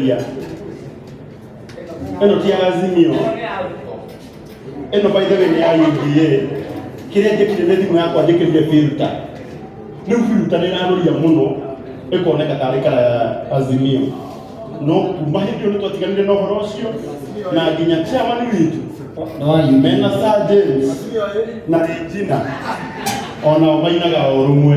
ya ĩno ti ya azimio ĩno by the way nĩ ya UDA kĩrĩa njĩkire nĩ thimũ yakwa njĩkĩrire filter rĩu filter nĩ ĩrarũria mũno ĩkoneka tarĩ kana ya azimio no kuma hĩndĩ ĩyo nĩ twatiganire na ũhoro ũcio na nginya chairman witũ mena Sir James na Regina onao mainaga o rũmwe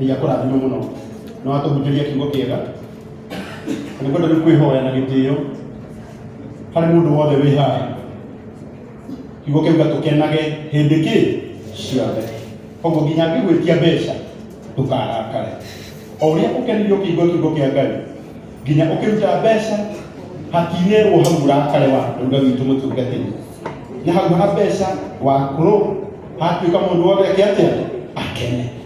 ngai akũrathime mũno na watũhunjĩria kiugo kĩega nĩ kwenda nĩ kwĩhoya na gĩtĩo harĩ mũndũ wothe wĩ haha kiugo kĩu gatũkenage hĩndĩ kĩ ciothe koguo nginya ngĩgwĩtia mbeca ndũkarakare o ũrĩa ũkenirio kĩigua kiugo kĩa ngai nginya ũkĩruta mbeca hatinĩrwo hau ũrakare wa ruga witũ mũtungatĩri na hau ha mbeca wakũrũ hatuĩka mũndũ wothe ake atĩa akene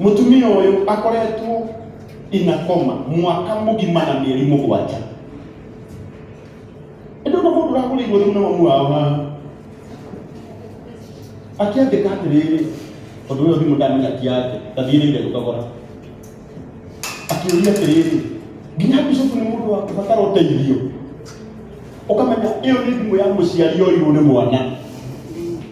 Mũtumia ũyũ akoretwo inakoma mwaka mũgima na mĩeri mũgwanja. Ĩndĩ ũna mũndũ ũragũrĩirwo thimũ na mamu wao haha akĩandĩka atĩrĩrĩ tondũ ũyũ thimũ ndamenya ti yake ndathiĩrĩire gũkagũra akĩũria atĩrĩrĩ nginya bishopu nĩ mũndũ wakubatara ũteithio ũkamenya ĩyo nĩ thimũ ya mũciari yoirwo nĩ mwana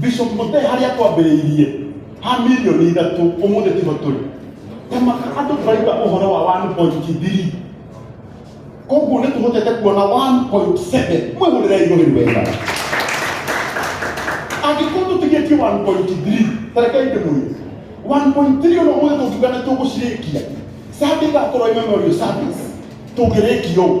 bishop mũte harĩa twambĩrĩirie ha milioni ithatũ ũmũthĩ tiho tũrĩ tamaka andũ tũraiga ũhoro wa 1.3 koguo nĩ tũhotete kuona 1.7 mwĩhũrĩre igũrĩ wega angĩkorwo tũtigĩtie 1.3 tarekei ndĩmũrie 1.3 ona ũmũthĩ tũngiuga nĩ tũgũcirĩkia sande igakorwo ĩmemorio service tũngĩrĩkia ũũ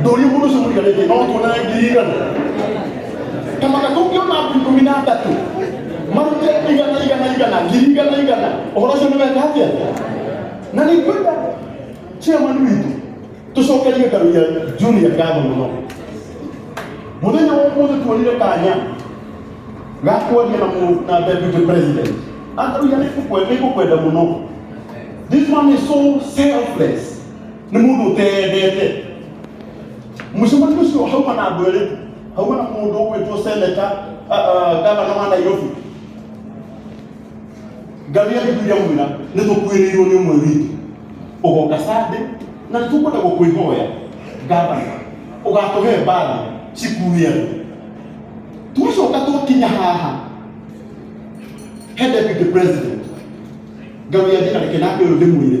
ndũri mũndũ ũcio mũriga rĩngĩ no tuonane ngiri igana kama gatũngĩona andũ ikũmi na atatũ marute igana igana igana ngiri igana igana ũhoro ũcio nĩweka atĩa na nĩ kwenda chairman witũ tũcokerie ngaru ya junior ngatho mũno mũthenya wa ũmũthĩ tuonire kanya ga kuaria na mũ- na deputy president angaru ya nĩ ngũkwenda mũno this man is so selfless nĩ mũndũ ũteyendete mũcemanio ũcio hauma na andũ erĩ hauma na mũndũ ũgwĩtwo seneta gavana wa nairobi ngamia gĩkuria mwĩra nĩ tũkuĩrĩirwo nĩ ũmwe witũ ũgoka sande na nĩ tũkwenda gũkwĩhoya gavana ũgatũhe mbathi cikue andũ twacoka twakinya haha he deputy president ngamia thiĩ na reke nake ũyũ ndĩmwĩre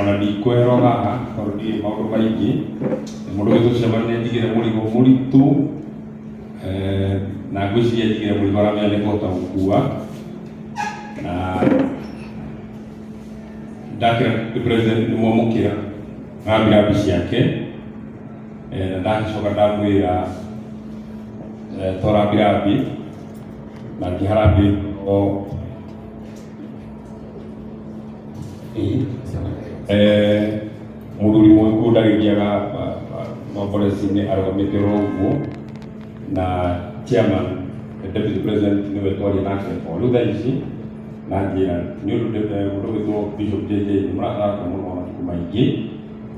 ona ndikweherwo haha tondũ ndirĩ maũndũ maingĩ nĩ mũndũ witũ cemania ndigĩre mũrigo mũritũ eh, na ngwĩciria ndigĩre mũrigo aramenya nĩ kũhota gũkua na ndakĩra nĩ president nĩ mwamũkĩra ngambira mbi ciake eh, na ndagĩcoka ndamwĩra eh, tora mbirambi na ngĩharambĩ o Eh, mũthuri mũgĩkũũ ndagĩthiaga maborecinĩ arũgamĩte oro ũguo na chairman the deputy president nĩwe twaria nake o rĩu thaa ici na njĩra nĩ ũndũ ndĩte- ũndũ wĩtwo bishop jj nĩ mũrathaka mũno matukũ maingĩ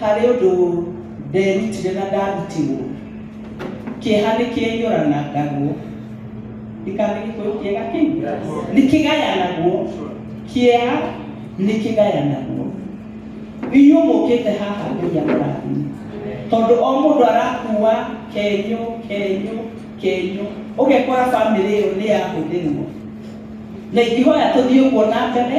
Harĩ ũndũ nderutire na ndarutirwo, kĩeha nĩ kĩenyũra na ngagwo. Ndikane gĩkũyũ kĩega kĩu. Nĩ kĩgayanagwo. Kĩeha nĩ kĩgayanagwo. Inyuĩ mũkĩte haha Ngai amũrathime. Tondũ o mũndũ arakuua kenyũ, kenyũ, kenyũ. Ũgekora bamĩrĩ ĩyo nĩ yahũthĩrwo. Na ingĩhoya tũthiĩ ũguo na mbere.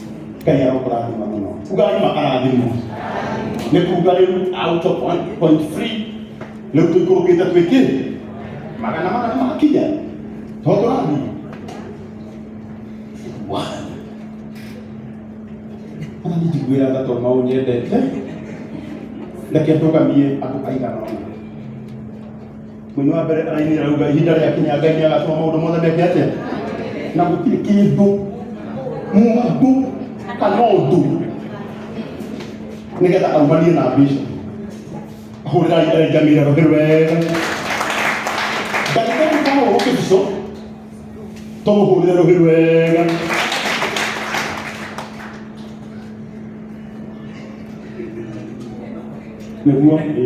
ngai arokũrathima mũno ugai makarathimwo nĩ kuga rĩu out of 1.3 rĩu tũikũrũkĩte twĩkĩ magana magana magakinya to tũrathi ona nĩnjiguĩra tha tondũ mau nyendete reke ndũgamie andũ aigana ũna Mũini wa mbere arainĩra rauga ihinda rĩa kinya Ngai nĩ agatũma maũndũ mothe meke atĩa na gũtirĩ kĩndũ mũndũ kana ũndũ nĩgetha aumanie na mbica hũrĩra ngamira rũhĩ wega Ngai ndagĩkorwo ũkĩbico tũmũhũrĩre rũhĩ wega nĩguo ĩ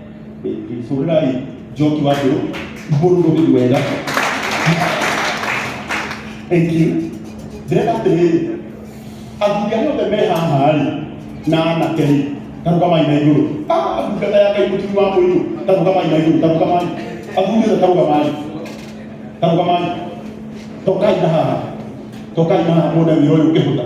hũrĩrai njoki wa ndũ mũndũ ũrĩ wega thank you ndĩrenda atĩrĩrĩ athuri arĩa othe me haha rĩ na anake rĩ tarũgamai na igũrũ Ah, ndungata ya ngai mũtumi wa mũirũ tarũgamai na igũrũ tarũgamai athuri othe tarũgamai tarũgamai tokai na haha tokai na haha muone wĩra ũyũ ũkĩhũtha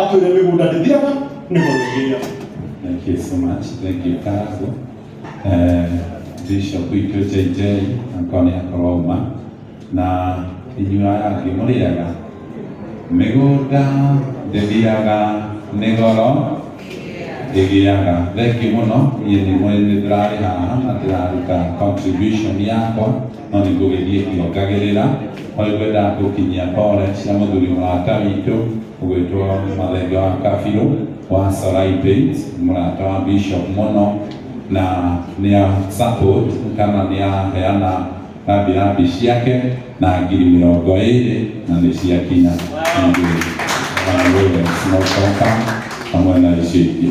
Atwĩre mĩgũnda ndĩthiraga nĩ gũthĩgĩria. Thank you so much. Thank you Karago. Eh, Bishop itũ JJ akwa nĩ akorwo uma na inyuĩ aya angĩ mũrĩaga mĩgũnda ndĩthiaga nĩ goro ĩgĩaga. Thengiũ mũno, niĩ nĩ mwene ndĩrarĩ haha na ndĩraruta contribution yakwa. no nĩ ngũgĩthiĩ ngĩongagĩrĩra. No nĩ ngwenda gũkinyia pole cia mũthuri mũrata witũ ũgwĩtwo Mathenge wa Kabirũ wa Soraibeit, mũrata wa Bishop mũno na nĩ a support kana nĩ aheana rambirambi ciake na ngiri mĩrongo ĩrĩ na nĩ ciakinya Ningĩ, na Lawrence Mũtoka hamwe na icio ingĩ.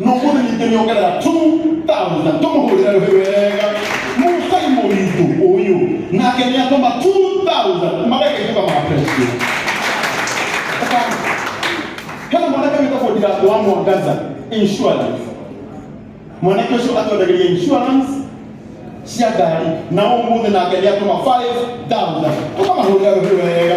nokuri nyitiriokera tu tauza tumuhurira wega musai muritu uyu nake niatoma tu tauza marekaituka mapresio hena mwanake witagwo ndirato wa mwangaza insurance mwanake ucio atwendagiria insurance cia ngari na umuthi nake niatoma 5000 tukamahurira wega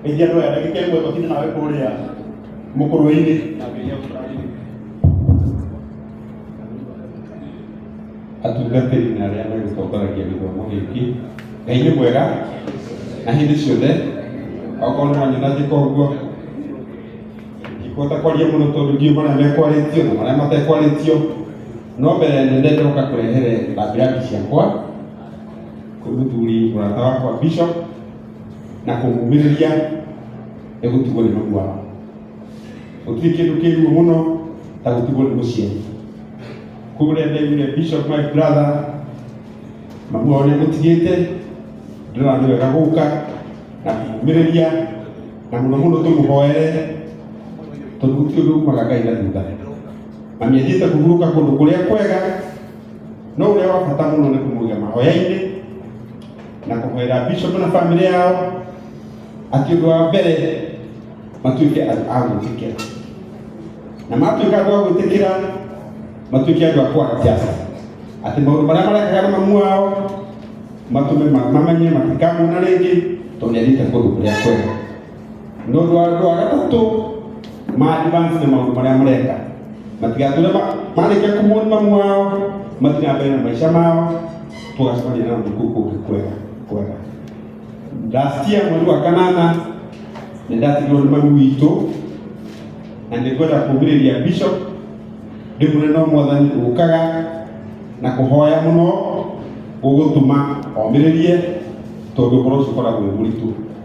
Ngeithia andũ aya ndagĩka ĩmwe tũtinde nawe kũrĩa mũkũrũinĩ na ngeithia ũtũrathime. atungatĩri na arĩa megũtongoragia gĩthomo gĩkĩ ngai nĩ mwega na hĩndĩ ciothe okorwo nĩ wanyona njĩka ũguo ndikũhota kwaria mũno tondũ ndiũ marĩa mekwarĩtio na marĩa matekwarĩtio no mbere nene ndoka kũrehere thambiraki ciakwa kwĩ mũthuri mũrata wakwa bishop na kũmumĩrĩria nĩ gũtigwo nĩ mũndũ wao gũtirĩ kĩndũ kĩruo mũno ta gũtigwo nĩ mũciari kũrĩa ndaigire bishop my brother mamu wao nĩagũtigĩte ndĩrona nĩ wega gũka na kũmumĩrĩria na mũno mũno tũmũhoere tondũ gũtirĩ ũndũ umaga ngai na thutha mami athiĩte kũhurũka kũndũ kũrĩa kwega no ũrĩa wa bata mũno nĩ kũmũiga mahoya-inĩ na kũhoera bishop na family yao atĩ ũndũ wa mbere matuĩke andũ a gwĩtĩkĩra na matuĩka andũ a gwĩtĩkĩra matuĩke andũ a kwanjasa atĩ maũndũ marĩa marekaga na mamu wao matũme ma- mamenye matikamuona rĩngĩ tondũ nĩathiĩte kũndũ kũrĩa kwega no rwa rwa gatatu maadvance na maundu maria mureka matigature marikia kumurima mwao mathiĩ na mbere na maica mao tũgacemania na ũndũ kũu kũngĩ kwega kwega last year mweri wa kanana nĩ ndatigirwo nĩ mami witũ na nĩ kwenda kũmĩrĩria bishop ndĩmwĩre no mwathani ũkaga na kũhoya mũno gũgũtuma omĩrĩrie tondũ ũhoro ũcio ũkoragwo wĩ mũritũ